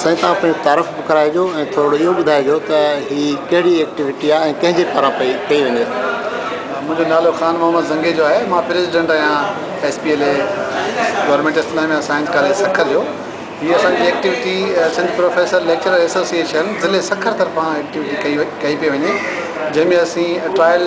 سائين تان پڻ تعارف به ڪرائجو ۽ ٿورڙو اهو ٻڌائجو ته هي ڪهڙي ايڪٽيوٽي آهي ۽ ڪنهن جي پاران پئي ڪئي وڃي ٿي. منهنجو نالو خان محمد زنگيجو آهي مان پريزيڊنٽ آهيان S P L A government Islamia science college Sukkur جو هي اسان جي activity Sindh professor lecturer association ضلعي سکر طرفان ايڪٽيوٽي ڪئي پئي وڃي جنهن ۾ اسين ٽرائل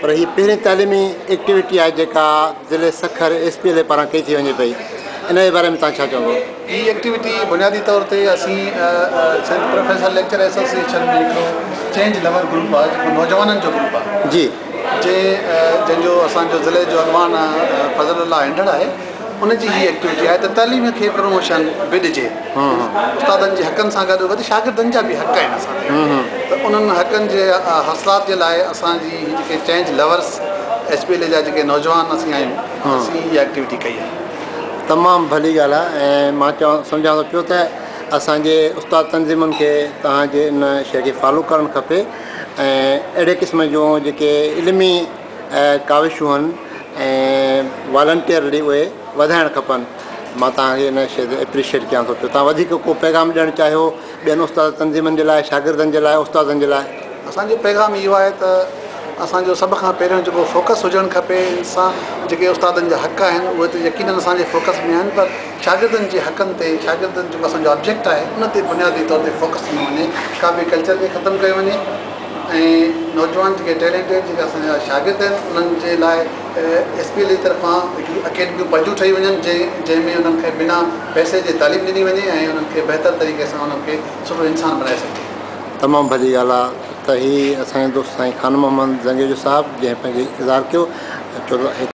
پر هي پهرين تعليمي ايڪٽيوٽي آهي جيڪا ضلعي Sukkur S P L A پاران ڪئي ٿي وڃي پئي ان جي باري ۾ توهان ڇا چوندو. هي ايڪٽيوٽي بنيادي طور تي اسين سنڌ پروفيسر ليڪچر ايسوسيئيشن ۾ هڪڙو چينج لور گروپ آهي جيڪو نوجوانن جو گروپ آهي جي جنهن جو اسان جو ضلعي جو اڳواڻ فضل الله هينڊڙ آهي. ان جي هي ايڪٽويٽي آهي ته تعليم کي پروموشن به ڏجي. استادن جي حقن سان گڏ گڏ شاگردن جا به حق آهن اسان تي ته انهن حقن جي حاصلات جي لاء اسان جي هي جيڪي change lovers H P L A جا جيڪي نوجوان اسين آهيون اسين اها ايڪٽويٽي ڪئي آهي. تمام ڀلي ڳالهه آهي ۽ مان چوان سمجهان ٿو پيو ته اسان جي استاد تنظيمن کي توهان جي ان شيء کي فالو ڪرڻ کپي ۽ اهڙي قسم جون جيڪي علمي اهي ڪاوشون ۽ والنٽيئرلي اهي وڌائڻ کپن مان توهان کي ان شيء تي اپريشيئٽ ڪيان ٿو پيو توهان وڌيڪ ڪو پيغام ڏيڻ چاهيو ٻين استاد تنظيمن جي لاء شاگردن جي لاء استادن جي لاء؟ اسانجو پيغام اهو آهي ته اسانجو سڀ کان پهريون جيڪو فوڪس هجڻ کپي انسان جيڪي استادن جا حق آهن اهي ته يقينن اسانجي فوڪس ۾ آهن پر شاگردن جي حقن تي شاگردن جيڪو اسانجو آبجيڪٽ آهي ان تي بنيادي طور تي فوڪس ڏنو وڃي ڪاپي ڪلچر کي ختم ڪيو وڃي ۽ نوجوان جيڪي ٽيلينٽيڊ جيڪي اسان جا شاگرد آهن انهن جي لاء ايس پي ايل اي طرفان هڪڙي اڪيڊميون پنهنجون ٺهي وڃن جنهن جنهن ۾ انهن کي بنا پئسي جي تعليم ڏني وڃي ۽ انهن کي بهتر طريقي سان انهن کي سٺو انسان بنائي سگهجي. تمام ڀلي ڳالهه آ ته هي اسان جي دوست سائين خان محمد زنگيجو صاحب جنهن پنهنجي اظهار ڪيو ۽ چوڌاري